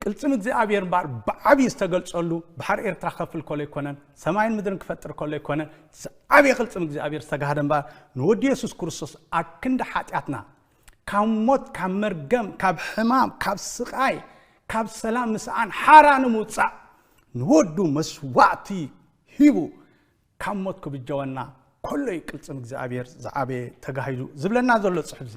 ቅልፅም እግዚኣብሔር እምበኣር ብዓብዪ ዝተገልፀሉ ባሕሪ ኤርትራ ከፍል ከሎ ኣይኮነን ሰማይን ምድርን ክፈጥር ከሎ ኣይኮነ ዝዓብየ ቅልፅም እግዚኣብሔር ዝተጋህደ እምበኣር ንወዲ የሱስ ክርስቶስ ኣብ ክንዲ ሓጢኣትና ካብ ሞት ካብ መርገም ካብ ሕማም ካብ ስቓይ ካብ ሰላም ምስኣን ሓራ ንምውፃእ ንወዱ መስዋእቲ ሂቡ ካብ ሞት ክብጀወና ከሎ እዩ ቅልፅም እግዚኣብሔር ዝዓበየ ተጋሂዱ ዝብለና ዘሎ ፅሑፍ እዚ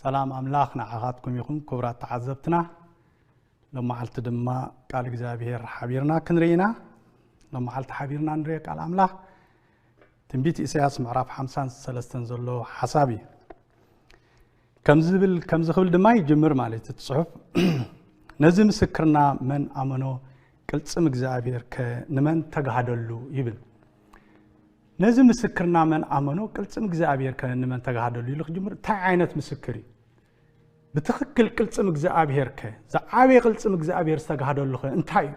ሰላም ኣምላኽ ንዓኻትኩም ይኹን ክቡራት ተዓዘብትና ሎመዓልቲ ድማ ቃል እግዚኣብሄር ሓቢርና ክንርኢ ኢና ሎመዓልቲ ሓቢርና ንሪኦ ቃል ኣምላኽ ትንቢት ኢሳያስ ምዕራፍ 53 ዘሎ ሓሳብ እዩ ከምዚ ዝብል ከምዚ ክብል ድማ ይጅምር ማለት እቲ ፅሑፍ ነዚ ምስክርና መን ኣመኖ ቅልፅም እግዚኣብሔር ከ ንመን ተጋህደሉ ይብል ነዚ ምስክርና መን ኣመኖ ቅልጽም እግዚኣብሔር ከ ንመን ተጋህደሉ ኢሉ ክጅምር እንታይ ዓይነት ምስክር እዩ ብትኽክል ቅልጽም እግዚኣብሔር ከ ዝዓበየ ቅልጽም እግዚኣብሔር ዝተጋህደሉ ከ እንታይ እዩ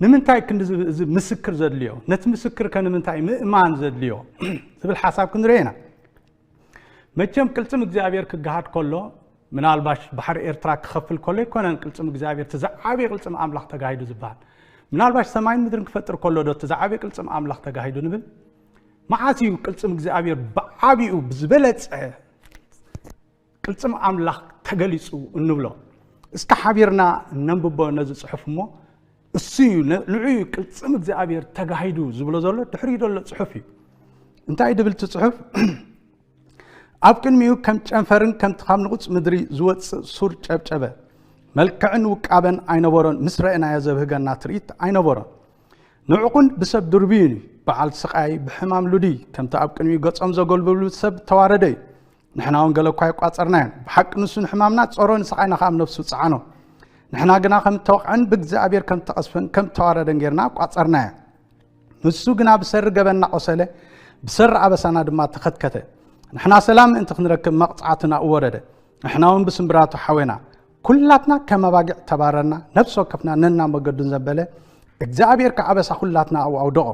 ንምንታይ ክንዲ እዚ ምስክር ዘድልዮ ነቲ ምስክር ከ ንምንታይ ምእማን ዘድልዮ ዝብል ሓሳብ ክንርኢ ኢና መቸም ቅልጽም እግዚኣብሔር ክገሃድ ከሎ ምናልባሽ ባሕሪ ኤርትራ ክኸፍል ከሎ ኣይኮነን ቅልጽም እግዚኣብሔር እቲ ዝዓበየ ቅልጽም ኣምላኽ ተጋሂዱ ዝበሃል ምናልባሽ ሰማይን ምድርን ክፈጥር ከሎ ዶ እቲ ዝዓበየ ቅልጽም ኣምላኽ ተጋሂዱ ንብል መዓስ እዩ ቅልጽም እግዚኣብሔር ብዓቢኡ ብዝበለጸ ቅልጽም ኣምላኽ ተገሊጹ እንብሎ። እስከ ሓቢርና ነንብቦ ነዚ ጽሑፍ እሞ እሱ እዩ ንዑ እዩ ቅልጽም እግዚኣብሔር ተጋሂዱ ዝብሎ ዘሎ ድሕሪኡ ዘሎ ጽሑፍ እዩ እንታይ ድብል እቲ ጽሑፍ ኣብ ቅድሚኡ ከም ጨንፈርን ከምቲ ካብ ንቑፅ ምድሪ ዝወፅእ ሱር ጨብጨበ መልክዕን ውቃበን ኣይነበሮን ምስ ረእናዮ ዘብህገና ትርኢት ኣይነበሮን ንዕቑን ብሰብ ድርብዩን እዩ በዓል ስቃይ ብሕማም ሉድይ ከምቲ ኣብ ቅድሚኡ ገጾም ዘገልብሉ ሰብ ተዋረደ እዩ ንሕና እውን ገለ እኳ የቋጸርናዮም ብሓቂ ንሱ ንሕማምና ጸሮ ንስቓይና ከዓ ነፍሱ ጸዓኖ ንሕና ግና ከም እተወቕዐን ብእግዚኣብሔር ከም እተቐስፈን ከም እተዋረደን ጌርና ኣቋጸርናዮ ንሱ ግና ብሰሪ ገበና ቆሰለ ብሰሪ ኣበሳና ድማ ተኸትከተ ንሕና ሰላም ምእንቲ ክንረክብ መቕጻዕትና እወረደ ንሕና እውን ብስምብራቱ ሓዌና ኩላትና ከም ኣባጊዕ ተባረርና፣ ነፍሲ ወከፍና ነና መገዱን ዘበለ፣ እግዚኣብሔር ከዓበሳ ኩላትና ኣብኡ ኣውደቖ።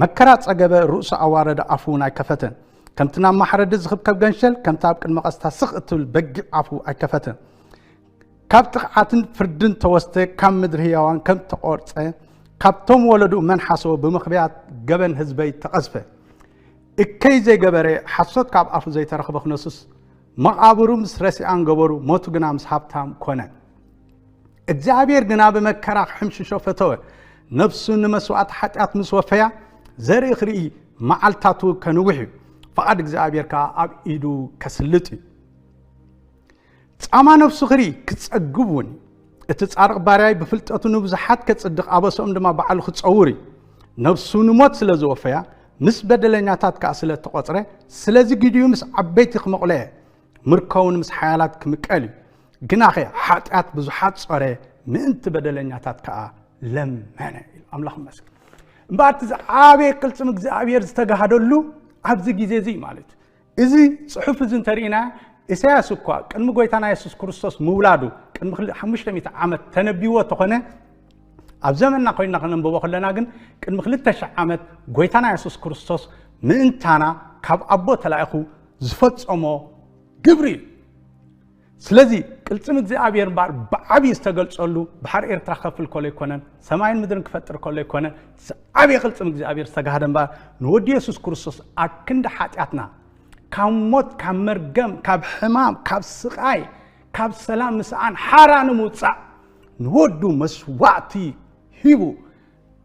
መከራ ጸገበ፣ ርእሱ ኣዋረደ፣ ኣፉ እውን ኣይከፈተን። ከምቲ ናብ ማሕረዲ ዝኽብከብ ገንሸል፣ ከምቲ ኣብ ቅድሚ ቐስታ ስኽ እትብል በጊዕ ኣፉ ኣይከፈተን። ካብ ጥቕዓትን ፍርድን ተወስተ፣ ካብ ምድሪ ህያዋን ከም ተቖርጸ፣ ካብቶም ወለድኡ መን ሓሰወ፣ ብምኽብያት ገበን ህዝበይ ተቐዝፈ። እከይ ዘይገበረ፣ ሓሶት ካብ ኣፉ ዘይተረኽበ ክነሱስ፣ መቓብሩ ምስ ረሲኣን ገበሩ፣ ሞቱ ግና ምስ ሃብታም ኮነ። እግዚኣብሔር ግና ብመከራ ክሕምሽሾ ፈተወ፣ ነፍሱ ንመስዋእቲ ሓጢኣት ምስ ወፈያ ዘርኢ ክርኢ መዓልታቱ ከንውሕ እዩ፣ ፍቓድ እግዚኣብሔር ከዓ ኣብ ኢዱ ከስልጥ እዩ። ጻማ ነፍሱ ክርኢ ክጸግብ እውን እዩ። እቲ ጻርቕ ባርያይ ብፍልጠቱ ንብዙሓት ከጽድቕ ኣበሰኦም ድማ ባዕሉ ክጸውር እዩ ነብሱ ንሞት ስለ ዝወፈያ ምስ በደለኛታት ከኣ ስለ እተቖጽረ ስለዚ ግዲኡ ምስ ዓበይቲ ክመቑለ እየ ምርከውን ምስ ሓያላት ክምቀል እዩ ግናኸ ሓጢኣት ብዙሓት ጾረ ምእንቲ በደለኛታት ከዓ ለመነ ኢሉ ኣምላኽ መስል እምበኣር እቲ ዝዓበየ ቅልፅም እግዚኣብሔር ዝተጋሃደሉ ኣብዚ ግዜ እዚ ማለት እዩ እዚ ጽሑፍ እዚ እንተርኢና ኢሳያስ እኳ ቅድሚ ጎይታና የሱስ ክርስቶስ ምውላዱ ቅድሚ ክልእ ሓሙሽተ ሚእቲ ዓመት ተነቢዎ እተኾነ ኣብ ዘመንና ኮይንና ከነንብቦ ከለና ግን ቅድሚ ክልተ ሽሕ ዓመት ጎይታና የሱስ ክርስቶስ ምእንታና ካብ ኣቦ ተላኢኹ ዝፈጸሞ ግብሪ እዩ ስለዚ ቅልጽም እግዚኣብሔር እምበኣር ብዓብዪ ዝተገልጸሉ ባሕሪ ኤርትራ ከፍል ከሎ ኣይኮነን ሰማይን ምድርን ክፈጥር ከሎ ኣይኮነ ዓብዪ ቅልጽም እግዚኣብሔር ዝተጋህደ እምበኣር ንወዲ የሱስ ክርስቶስ ኣብ ክንዲ ሓጢኣትና ካብ ሞት ካብ መርገም ካብ ሕማም ካብ ስቓይ ካብ ሰላም ምስኣን ሓራ ንምውፃእ ንወዱ መስዋእቲ ሂቡ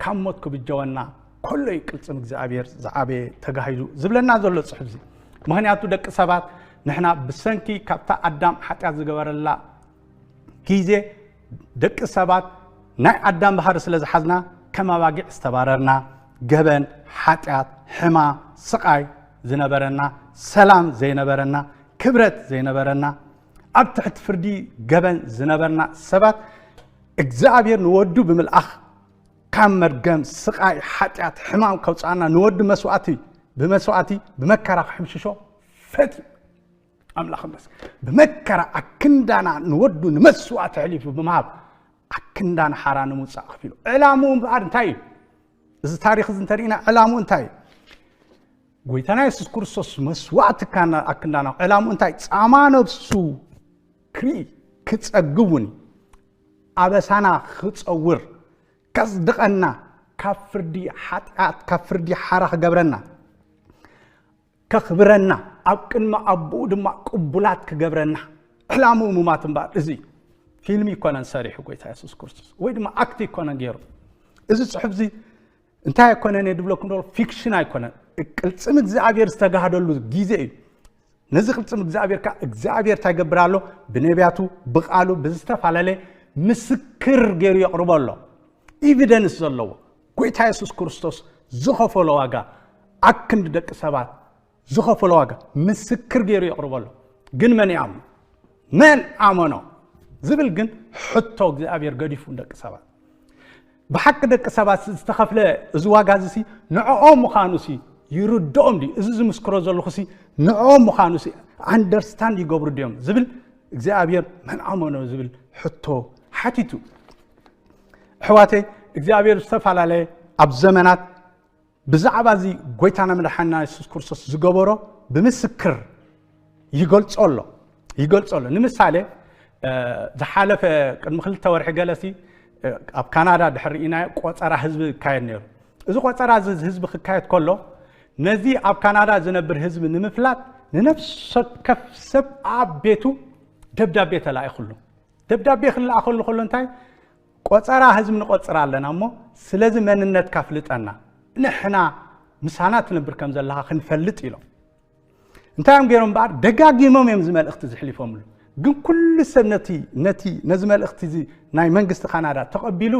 ካብ ሞት ክብጀወና ከሎ እዩ ቅልፅም እግዚኣብሔር ዝዓበየ ተጋሂዱ ዝብለና ዘሎ ፅሑፍ እዚ ምክንያቱ ደቂ ሰባት ንሕና ብሰንኪ ካብታ ኣዳም ሓጢኣት ዝገበረላ ግዜ ደቂ ሰባት ናይ ኣዳም ባህሪ ስለ ዝሓዝና ከም ኣባጊዕ ዝተባረርና ገበን ሓጢኣት ሕማ ስቃይ ዝነበረና ሰላም ዘይነበረና ክብረት ዘይነበረና ኣብ ትሕቲ ፍርዲ ገበን ዝነበርና ሰባት እግዚኣብሔር ንወዱ ብምልኣኽ ካብ መርገም ስቓይ ሓጢኣት ሕማም ከውፅኣና ንወዱ መስዋእቲ ብመስዋእቲ ብመከራ ክሕምሽሾ ፈትዩ ኣምላኽ መስ ብመከራ ኣክንዳና ንወዱ ንመስዋእቲ ሕሊፉ ብምሃብ ኣክንዳና ሓራ ንምውፃእ ክፊሉ ዕላምኡ እምበኣር እንታይ እዩ እዚ ታሪክ እዚ እንተሪእና ዕላምኡ እንታይ እዩ ጎይታና የሱስ ክርስቶስ መስዋእቲ ኣክንዳና ዕላምኡ እንታይ ፃማ ነብሱ ክርኢ ክጸግቡን ኣበሳና ክጸውር ከጽድቐና ካብ ፍርዲ ሓጢኣት ካብ ፍርዲ ሓራ ክገብረና ከኽብረና ኣብ ቅድሚ ኣቦኡ ድማ ቅቡላት ክገብረና ዕላምኡ ምማት እምበኣር እዚ ፊልሚ ይኮነን ሰሪሑ ጎይታ የሱስ ክርስቶስ ወይ ድማ ኣክቲ ይኮነን ገይሩ እዚ ፅሑፍ እዚ እንታይ ኣይኮነን እየ ድብለኩም ደሎ ፊክሽን ኣይኮነን ቅልፅም እግዚኣብሔር ዝተጋህደሉ ግዜ እዩ ነዚ ቅልፅም እግዚኣብሔር ከዓ እግዚኣብሔር እንታይ ይገብር ኣሎ ብነቢያቱ ብቃሉ ብዝተፈላለየ ምስክር ገይሩ የቕርቦ ኣሎ ኢቪደንስ ዘለዎ ጎይታ የሱስ ክርስቶስ ዝኸፈሎ ዋጋ ኣክንዲ ደቂ ሰባት ዝኸፈሎ ዋጋ ምስክር ገይሩ የቕርቦ ኣሎ ግን መን ይኣምኖ መን ኣመኖ ዝብል ግን ሕቶ እግዚኣብሔር ገዲፉ ደቂ ሰባት ብሓቂ ደቂ ሰባት ዝተኸፍለ እዚ ዋጋ እዚ ሲ ንዕኦም ምዃኑ ሲ ይርድኦም ድዩ እዚ ዝምስክሮ ዘለኹ ሲ ንዕኦም ምዃኑ ሲ ኣንደርስታንድ ይገብሩ ድዮም ዝብል እግዚኣብሔር መን ኣመኖ ዝብል ሕቶ ሓቲቱ ኣሕዋተይ እግዚኣብሔር ዝተፈላለየ ኣብ ዘመናት ብዛዕባ እዚ ጎይታና መድሓኒና የሱስ ክርስቶስ ዝገበሮ ብምስክር ይገልጾ ኣሎ ይገልጾ ኣሎ ንምሳሌ ዝሓለፈ ቅድሚ ክልተ ወርሒ ገለሲ ኣብ ካናዳ ድሕሪ ኢናዮ ቆፀራ ህዝቢ ይካየድ ነይሩ እዚ ቆፀራ እዚ ህዝቢ ክካየድ ከሎ ነዚ ኣብ ካናዳ ዝነብር ህዝቢ ንምፍላጥ ንነፍሰ ከፍ ሰብ ኣብ ቤቱ ደብዳቤ ተላኢኹሉ ደብዳቤ ክለኣኸሉ ከሎ እንታይ ቆጸራ ህዝቢ ንቆጽር ኣለና እሞ ስለዚ መንነትካ ኣፍልጠና ንሕና ምሳና ትነብር ከም ዘለኻ ክንፈልጥ ኢሎም እንታይ እዮም ገይሮም በኣር ደጋጊሞም እዮም እዚ መልእኽቲ ዝሕሊፎምሉ ግን ኩሉ ሰብ ነቲ ነቲ ነዚ መልእኽቲ እዚ ናይ መንግስቲ ካናዳ ተቐቢሉ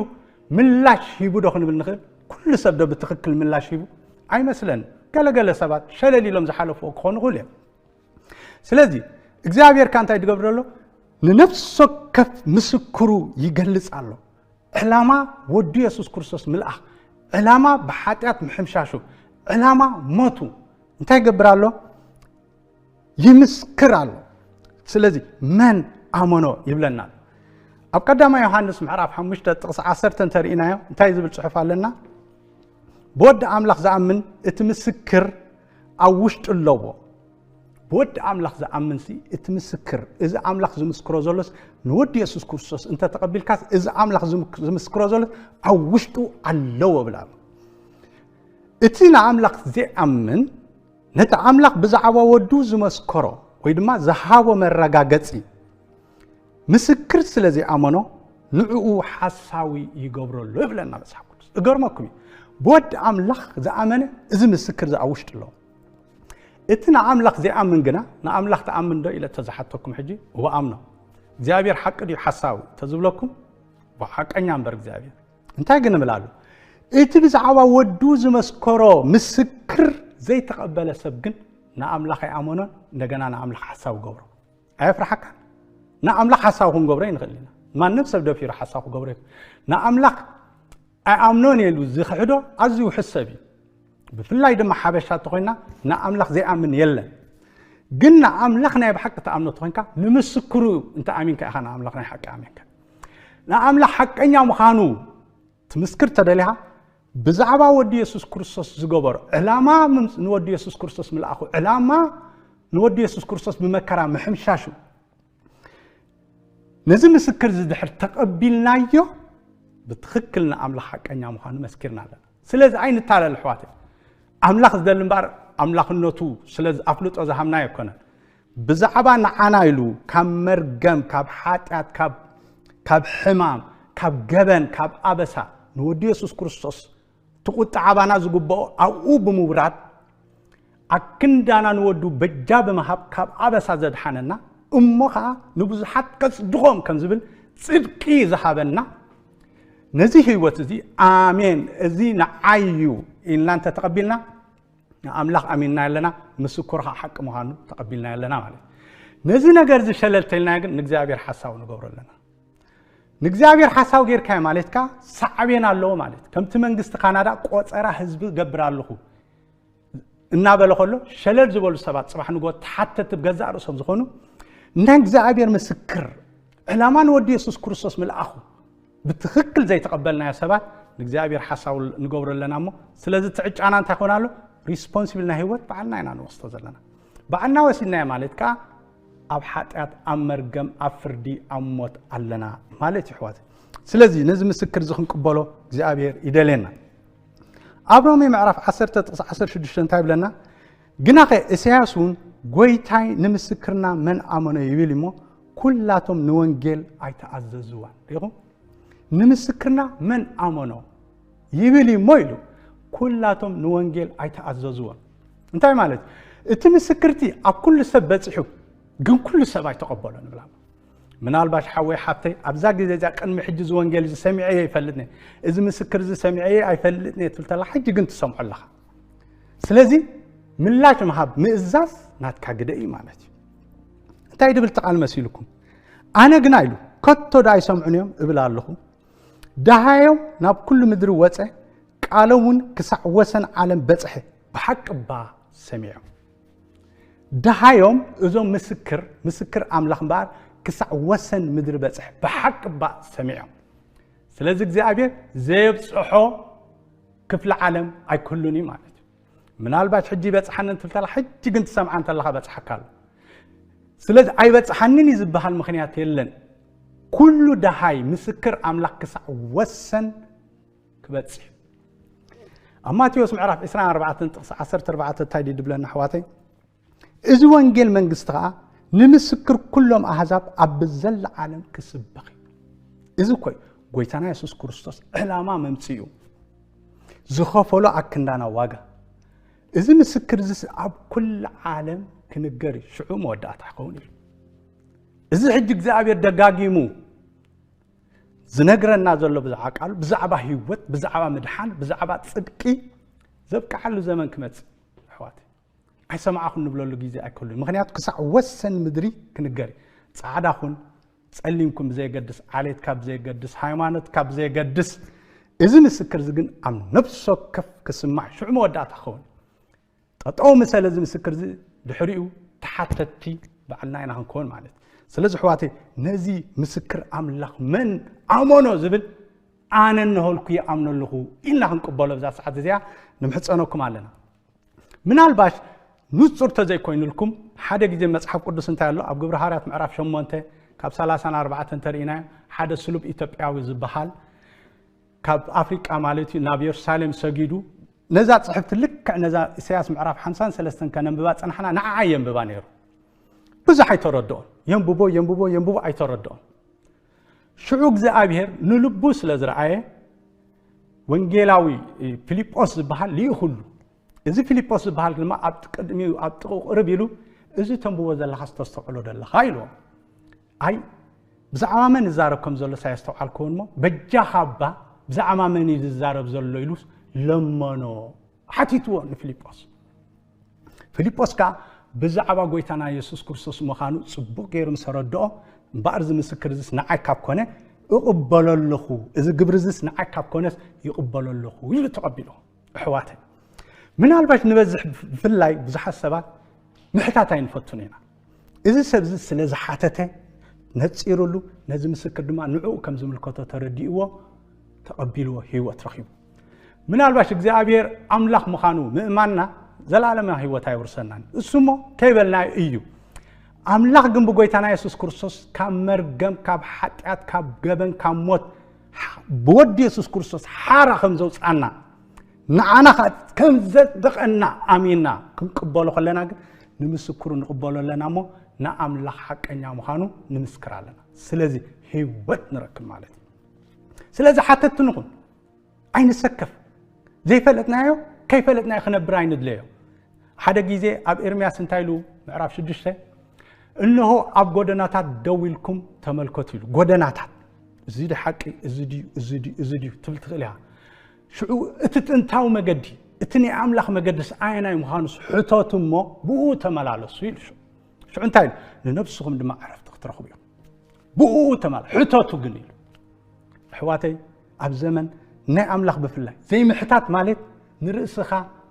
ምላሽ ሂቡ ዶ ክንብል ንኽእል ኩሉ ሰብ ዶ ብትኽክል ምላሽ ሂቡ ኣይመስለን ገለገለ ሰባት ሸለል ኢሎም ዝሓለፍዎ ክኾኑ ይኽእሉ እዮም ስለዚ እግዚኣብሔር ካ እንታይ ትገብር ኣሎ ንነፍሲ ወከፍ ምስክሩ ይገልጽ ኣሎ ዕላማ ወዱ የሱስ ክርስቶስ ምልኣኽ ዕላማ ብሓጢኣት ምሕምሻሹ ዕላማ ሞቱ እንታይ ይገብር ኣሎ ይምስክር ኣሎ ስለዚ መን ኣመኖ ይብለና ኣብ ቀዳማ ዮሃንስ ምዕራፍ 5 ጥቕሲ 1 እንተርኢናዮ እንታይ ዝብል ፅሑፍ ኣለና ብወዲ ኣምላኽ ዝኣምን እቲ ምስክር ኣብ ውሽጡ ኣለዎ። ብወዲ ኣምላኽ ዝኣምንሲ እቲ ምስክር እዚ ኣምላኽ ዝምስክሮ ዘሎስ ንወዲ የሱስ ክርስቶስ እንተተቐቢልካስ እዚ ኣምላኽ ዝምስክሮ ዘሎ ኣብ ውሽጡ ኣለዎ ብላ እቲ ንኣምላኽ ዘይኣምን ነቲ ኣምላኽ ብዛዕባ ወዱ ዝመስከሮ ወይ ድማ ዝሃቦ መረጋገፂ ምስክር ስለ ዘይኣመኖ ንዕኡ ሓሳዊ ይገብሮ ኣሎ ይብለና መጽሓፍ ቅዱስ። እገርመኩም እዩ ብወዲ ኣምላኽ ዝኣመነ እዚ ምስክር እዚ ኣብ ውሽጢ ኣሎ። እቲ ንኣምላኽ ዘይኣምን ግና ንኣምላኽ ትኣምን ዶ ኢለ ተዝሓተኩም ሕጂ እወ ኣምኖ እግዚኣብሔር ሓቂ ድዩ ሓሳዊ ተዝብለኩም ሓቀኛ እምበር እግዚኣብሔር እንታይ ግን እብል ኣሉ እቲ ብዛዕባ ወዱ ዝመስከሮ ምስክር ዘይተቐበለ ሰብ ግን ንኣምላኽ ኣይኣመኖን እንደገና ንኣምላኽ ሓሳዊ ገብሮ ኣየፍርሓካን? ንኣምላኽ ሓሳዊ ክንገብሮ ይንኽእል ኢና። ማንም ሰብ ደፊሩ ሓሳዊ ክገብሮ ይኽእል። ንኣምላኽ ኣይኣምኖን ኢሉ ዝኽሕዶ ኣዝዩ ውሕስ ሰብ እዩ። ብፍላይ ድማ ሓበሻ እንተኮይና ንኣምላኽ ዘይኣምን የለን። ግን ንኣምላኽ ናይ ብሓቂ ተኣምኖ እንተኮይንካ ንምስክሩ እንተኣሚንካ ኢኻ ንኣምላኽ ናይ ሓቂ ኣሚንካ ንኣምላኽ ሓቀኛ ምዃኑ ትምስክር ተደሊኻ ብዛዕባ ወዲ የሱስ ክርስቶስ ዝገበሮ ዕላማ ንወዲ የሱስ ክርስቶስ ምልኣኹ ዕላማ ንወዲ የሱስ ክርስቶስ ብመከራ ምሕምሻሹ ነዚ ምስክር እዚ ድሕር ተቐቢልናዮ ብትኽክል ንኣምላኽ ሓቀኛ ምዃኑ መስኪርና ኣለና ስለዚ ኣይንታለል ኣሕዋት ኣምላኽ ዝደሊ እምበር ኣምላኽነቱ ስለዚ ኣፍልጦ ዝሃብና ኣይኮነን ብዛዕባ ንዓና ኢሉ ካብ መርገም ካብ ሓጢኣት ካብ ካብ ሕማም ካብ ገበን ካብ ኣበሳ ንወዲ የሱስ ክርስቶስ ትቁጥዕ ኣባና ዝግብኦ ኣብኡ ብምውራድ ኣክንዳና ንወዱ በጃ ብምሃብ ካብ ኣበሳ ዘድሓነና እሞ ከዓ ንብዙሓት ከጽድቖም ከም ዝብል ጽድቂ ዝሃበና ነዚ ህይወት እዚ ኣሜን እዚ ንዓይ እዩ ኢልና እንተተቐቢልና ንኣምላኽ ኣሚንናዮ ኣለና፣ ምስክሩ ኸኣ ሓቂ ምዃኑ ተቐቢልናዮ ኣለና ማለት እዩ። ነዚ ነገር እዚ ሸለል ተልናዮ ግን ንእግዚኣብሔር ሓሳዊ ንገብሮ ኣለና። ንእግዚኣብሔር ሓሳዊ ጌርካዮ ማለት ከኣ ሳዕቤን ኣለዎ ማለት ከምቲ መንግስቲ ካናዳ ቆጸራ ህዝቢ ገብር ኣለኹ እናበለ ከሎ ሸለል ዝበሉ ሰባት ጽባሕ ንጎ ተሓተቲ ብገዛእ ርእሶም ዝኾኑ ናይ እግዚኣብሔር ምስክር ዕላማ ንወዲ የሱስ ክርስቶስ ምልኣኹ ብትኽክል ዘይተቐበልናዮ ሰባት ንእግዚኣብሔር ሓሳዊ ንገብሮ ኣለና እሞ ስለዚ እቲ ዕጫና እንታይ ኮን ኣሎ ሪስፖንሲብል ናይ ህይወት በዓልና ኢና ንወስዶ ዘለና በዓልና ወሲድናዮ ማለት ከዓ ኣብ ሓጢኣት ኣብ መርገም ኣብ ፍርዲ ኣብ ሞት ኣለና ማለት እዩ ሕዋት ስለዚ ነዚ ምስክር እዚ ክንቅበሎ እግዚኣብሔር ይደልየና ኣብ ሮሜ ምዕራፍ 10 ጥቕሲ 16 እንታይ ይብለና ግናኸ እሰያስ ውን ጎይታይ ንምስክርና መን ኣመኖ ይብል እሞ ኩላቶም ንወንጌል ኣይተኣዘዝዋን ሪኹም ንምስክርና መን ኣመኖ ይብል እሞ ኢሉ ኩላቶም ንወንጌል ኣይተኣዘዝዎን እንታይ ማለት እቲ ምስክርቲ ኣብ ኩሉ ሰብ በፂሑ ግን ኩሉ ሰብ ኣይተቐበሎ ንብላ ምናልባሽ ሓወይ ሓፍተይ ኣብዛ ግዜ እዚኣ ቅድሚ ሕጂ እዚ ወንጌል እዚ ሰሚዐ እየ ይፈልጥ እዚ ምስክር እዚ ሰሚዐ እየ ኣይፈልጥን እየ ትብል ተላ ሕጂ ግን ትሰምዖ ኣለኻ ስለዚ ምላሽ ምሃብ ምእዛዝ ናትካ ግደ እዩ ማለት እዩ እንታይ ድብል ተቓል መሲልኩም ኣነ ግና ኢሉ ከቶ ዳ ኣይሰምዑን እዮም እብል ኣለኹ ደሃዮም ናብ ኩሉ ምድሪ ወፀ ቃሎም እውን ክሳዕ ወሰን ዓለም በፅሐ ብሓቂ እባ ሰሚዖም ደሃዮም እዞም ምስክር ምስክር ኣምላኽ እምበኣር ክሳዕ ወሰን ምድሪ በፅሐ ብሓቂ እባ ሰሚዖም ስለዚ እግዚኣብሔር ዘየብፅሖ ክፍሊ ዓለም ኣይክህሉን እዩ ማለት እዩ ምናልባት ሕጂ ይበፅሓኒ እንትልተላ ሕጂ ግን ትሰምዓ እንተለካ በፅሓካ ኣሎ ስለዚ ኣይበፅሓንን እዩ ዝበሃል ምክንያት የለን ኩሉ ደሃይ ምስክር ኣምላኽ ክሳዕ ወሰን ክበፅሕ ኣብ ማቴዎስ ምዕራፍ 24 ጥቕሲ 14 እንታይ ድዩ ድብለና ኣሕዋተይ እዚ ወንጌል መንግስቲ ኸኣ ንምስክር ኩሎም ኣሕዛብ ኣብ ዘላ ዓለም ክስበኽ እዩ እዚ ኮይ ጎይታና የሱስ ክርስቶስ ዕላማ መምጽኡ ዝኸፈሎ ኣክንዳና ዋጋ እዚ ምስክር እዚ ኣብ ኩሉ ዓለም ክንገር እዩ ሽዑ መወዳእታ ክኸውን እዩ እዚ ሕጂ እግዚኣብሔር ደጋጊሙ ዝነግረና ዘሎ ብዛዕባ ቃሉ ብዛዕባ ህይወት ብዛዕባ ምድሓን ብዛዕባ ፅድቂ ዘብቅዓሉ ዘመን ክመፅእ ኣሕዋት ኣይሰማዕኹን ንብለሉ ግዜ ኣይከሉን ምክንያቱ ክሳዕ ወሰን ምድሪ ክንገር ጻዕዳ ኹን ጸሊም ኩን ብዘየገድስ ዓሌት ካብ ብዘየገድስ ሃይማኖት ካብ ብዘየገድስ እዚ ምስክር እዚ ግን ኣብ ነብሲ ወከፍ ክስማዕ ሽዑ መወዳእታ ክኸውን ጠጠው ምሰለ እዚ ምስክር እዚ ድሕሪኡ ተሓተቲ ባዕልና ኢና ክንከውን ማለት ስለዚ ሕዋተ ነዚ ምስክር ኣምላኽ መን ኣመኖ ዝብል ኣነ እነሆልኩ ይኣምኖ ኣለኹ ኢልና ክንቅበሎ ብዛ ሰዓት እዚኣ ንምሕፀነኩም ኣለና ምናልባሽ ንጹር ተዘይኮይኑልኩም ሓደ ግዜ መጽሓፍ ቅዱስ እንታይ ኣሎ ኣብ ግብሪ ሃርያት ምዕራፍ 8 ካብ 34 እንተርኢናዮ ሓደ ስሉብ ኢትዮጵያዊ ዝበሃል ካብ ኣፍሪቃ ማለት እዩ ናብ የሩሳሌም ሰጊዱ ነዛ ፅሕፍቲ ልክዕ ነዛ ኢሳያስ ምዕራፍ 53 ከነንብባ ፅናሕና ንዓዓ የንብባ ነይሩ ብዙሕ ኣይተረድኦን የንብቦ የንብቦ የንብቦ ኣይተረድኦን ሽዑ እግዚኣብሔር ንልቡ ስለ ዝረኣየ ወንጌላዊ ፊልጶስ ዝበሃል ልኢኹሉ እዚ ፊልጶስ ዝበሃል ድማ ኣብ ቅድሚ ኣብ ጥቑ ቅርብ ኢሉ እዚ ተንብቦ ዘለካ ዝተስተውዕሎ ዘለካ ኢልዎ ኣይ ብዛዕባ መን ይዛረብ ከም ዘሎ ሳየስተውዓልክዎን እሞ በጃኻ እባ ብዛዕባ መን እዩ ዝዛረብ ዘሎ ኢሉ ለመኖ ሓቲትዎ ንፊልጶስ ፊልጶስ ከኣ ብዛዕባ ጐይታና የሱስ ክርስቶስ ምዃኑ ጽቡቕ ገይሩ ምስ ኣረድኦ፣ እምበኣር እዚ ምስክር እዝስ ንዓይ ካብ ኰነ እቕበሎ ኣለኹ፣ እዚ ግብሪ እዝስ ንዓይ ካብ ኰነስ ይቕበሎ ኣለኹ ኢሉ ተቐቢሎ። ኣሕዋተይ፣ ምናልባሽ ንበዝሕ ብፍላይ ብዙሓት ሰባት ምሕታት ኣይንፈቱን ኢና። እዚ ሰብዚ ስለ ዝሓተተ ነጺሩሉ ነዚ ምስክር ድማ ንዕኡ ከም ዝምልከቶ ተረዲእዎ ተቐቢልዎ ህይወት ረኺቡ ምናልባሽ እግዚኣብሔር ኣምላኽ ምዃኑ ምእማንና ዘላለማ ህይወት ኣይውርሰናን እሱ እሞ ከይበልና እዩ ኣምላኽ ግን ብጎይታና የሱስ ክርስቶስ ካብ መርገም ካብ ሓጢኣት ካብ ገበን ካብ ሞት ብወዲ የሱስ ክርስቶስ ሓራ ከም ዘውፅኣና ንዓና ኸኣ ከም ዘጽድቐና ኣሚንና ክንቅበሎ ከለና ግን ንምስክሩ ንቕበሎ ኣለና እሞ ንኣምላኽ ሓቀኛ ምዃኑ ንምስክር ኣለና። ስለዚ ህይወት ንረክብ ማለት እዩ። ስለዚ ሓተትቲ ንኹን፣ ኣይንሰከፍ። ዘይፈለጥናዮ ከይፈለጥናዮ ክነብር ኣይንድለዮ። ሓደ ግዜ ኣብ ኤርምያስ እንታይ ኢሉ ምዕራፍ ሽዱሽተ እነሆ ኣብ ጎደናታት ደው ኢልኩም ተመልከቱ ኢሉ ጎደናታት እዚ ዲ ሓቂ እዚ ድዩ እዚ ድዩ እዚ ድዩ ትብል ትኽእል ኢኻ ሽዑ እቲ ጥንታዊ መገዲ፣ እቲ ናይ ኣምላኽ መገድስ ኣየናይ ምዃኑስ ሕተቱ እሞ ብእኡ ተመላለሱ ኢሉ። ሽዑ እንታይ ኢሉ? ንነብስኹም ድማ ዕረፍቲ ክትረኽቡ እዮም። ብእኡ ተመላ ሕተቱ ግን ኢሉ። ኣሕዋተይ ኣብ ዘመን ናይ ኣምላኽ ብፍላይ ዘይምሕታት ማለት ንርእስኻ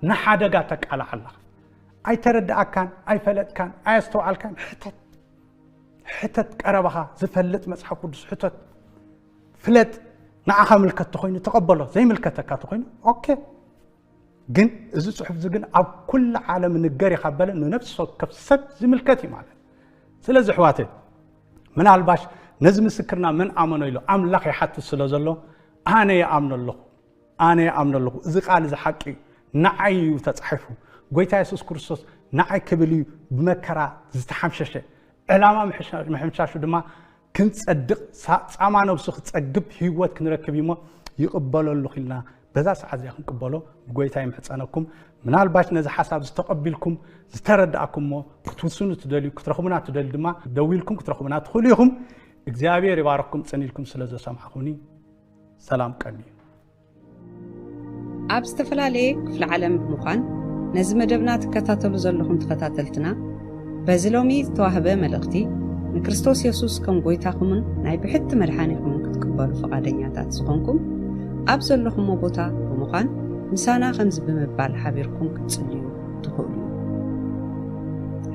ንሓደጋ ተቃላዕ ኣለኻ። ኣይተረድኣካን፣ ኣይፈለጥካን፣ ኣየስተውዓልካን፣ ሕተት ሕተት ቀረባኻ ዝፈልጥ መጽሓፍ ቅዱስ ሕተት። ፍለጥ ንዓኻ ምልከት ተኾይኑ ተቐበሎ ዘይምልከተካ ተኾይኑ ኦኬ ግን እዚ ፅሑፍ እዚ ግን ኣብ ኩሉ ዓለም ንገር ኢኻ በለ ንነብሲ ወከፍ ሰብ ዝምልከት እዩ ማለት ስለዚ ኣሕዋተ ምናልባሽ ነዚ ምስክርና መን ኣመኖ ኢሉ ኣምላኽ ይሓትት ስለ ዘሎ ኣነ ይኣምኖ ኣለኹ ኣነ ይኣምኖ ኣለኹ እዚ ቃል እዚ ሓቂ እዩ ንዓይ እዩ ተፃሒፉ ጎይታ የሱስ ክርስቶስ ንዓይ ክብል እዩ ብመከራ ዝተሓምሸሸ ዕላማ ምሕምሻሹ ድማ ክንጸድቕ ጻማ ነብሱ ክጸግብ ህይወት ክንረክብ እዩሞ ይቕበለሉ ኺልና በዛ ሰዓት እዚኣ ክንቅበሎ ብጎይታ ይምሕጸነኩም ምናልባሽ ነዚ ሓሳብ ዝተቐቢልኩም ዝተረዳእኩምሞ ክትውስኑ ትደልዩ ክትረኽቡና ትደልዩ ድማ ደዊልኩም ክትረኽቡና ትኽእሉ ኢኹም እግዚኣብሔር ይባረኽኩም ጽኒኢልኩም ስለ ዘሰማዕኹኒ ሰላም ቀንዩ ኣብ ዝተፈላለየ ክፍለ ዓለም ብምዃን ነዚ መደብና ትከታተሉ ዘለኹም ተኸታተልትና በዚ ሎሚ ዝተዋህበ መልእኽቲ ንክርስቶስ የሱስ ከም ጐይታኹምን ናይ ብሕቲ መድሓኒኹምን ክትቅበሉ ፈቓደኛታት ዝኾንኩም ኣብ ዘለኹሞ ቦታ ብምዃን ምሳና ከምዚ ብምባል ሓቢርኩም ክትጽልዩ ትኽእሉ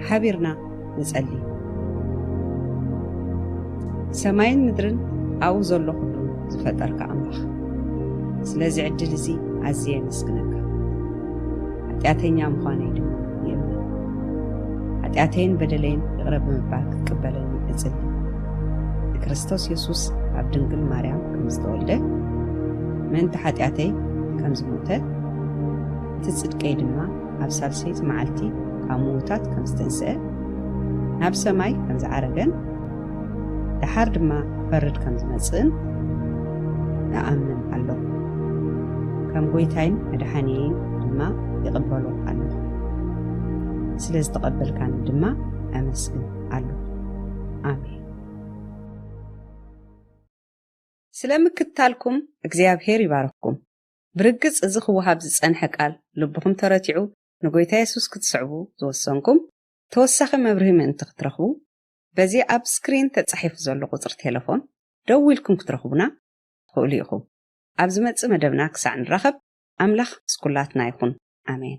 ሓቢርና ንጸሊ። ሰማይን ምድርን ኣብኡ ዘሎ ኩሉ ዝፈጠርካ ኣምላኽ ስለዚ ዕድል እዚ ኣዝየ የመስግነካ። ሓጢኣተኛ ምዃነይ ድማ ይእመን። ሓጢኣተይን በደለይን ይቕረ ብምባል ክትቅበለኒ እጽሊ። ንክርስቶስ የሱስ ኣብ ድንግል ማርያም ከም ዝተወልደ ምእንቲ ሓጢኣተይ ከም ዝሞተ እቲ ጽድቀይ ድማ ኣብ ሳልሰይቲ መዓልቲ ካብ ምዉታት ከም ዝተንስኤ፣ ናብ ሰማይ ከም ዝዓረገን ደሓር ድማ ክፈርድ ከም ዝመጽእን እኣምን ኣሎኹ። ከም ጐይታይን መድሓኒየይን ድማ ይቕበሎ ኣሎኹ። ስለ ዝተቐበልካኒ ድማ ኣመስግን ኣሎኹ። ኣሜን። ስለ ምክትታልኩም እግዚኣብሄር ይባርኽኩም። ብርግጽ እዚ ክወሃብ ዝጸንሐ ቃል ልብኹም ተረቲዑ ንጎይታ የሱስ ክትስዕቡ ዝወሰንኩም ተወሳኺ መብርሂ ምእንቲ ክትረኽቡ በዚ ኣብ ስክሪን ተጻሒፉ ዘሎ ቁጽሪ ቴለፎን ደዊልኩም ክትረኽቡና ትኽእሉ ኢኹም ኣብ ዝመጽእ መደብና ክሳዕ ንራኸብ ኣምላኽ ምስ ኩላትና ይኹን ኣሜን።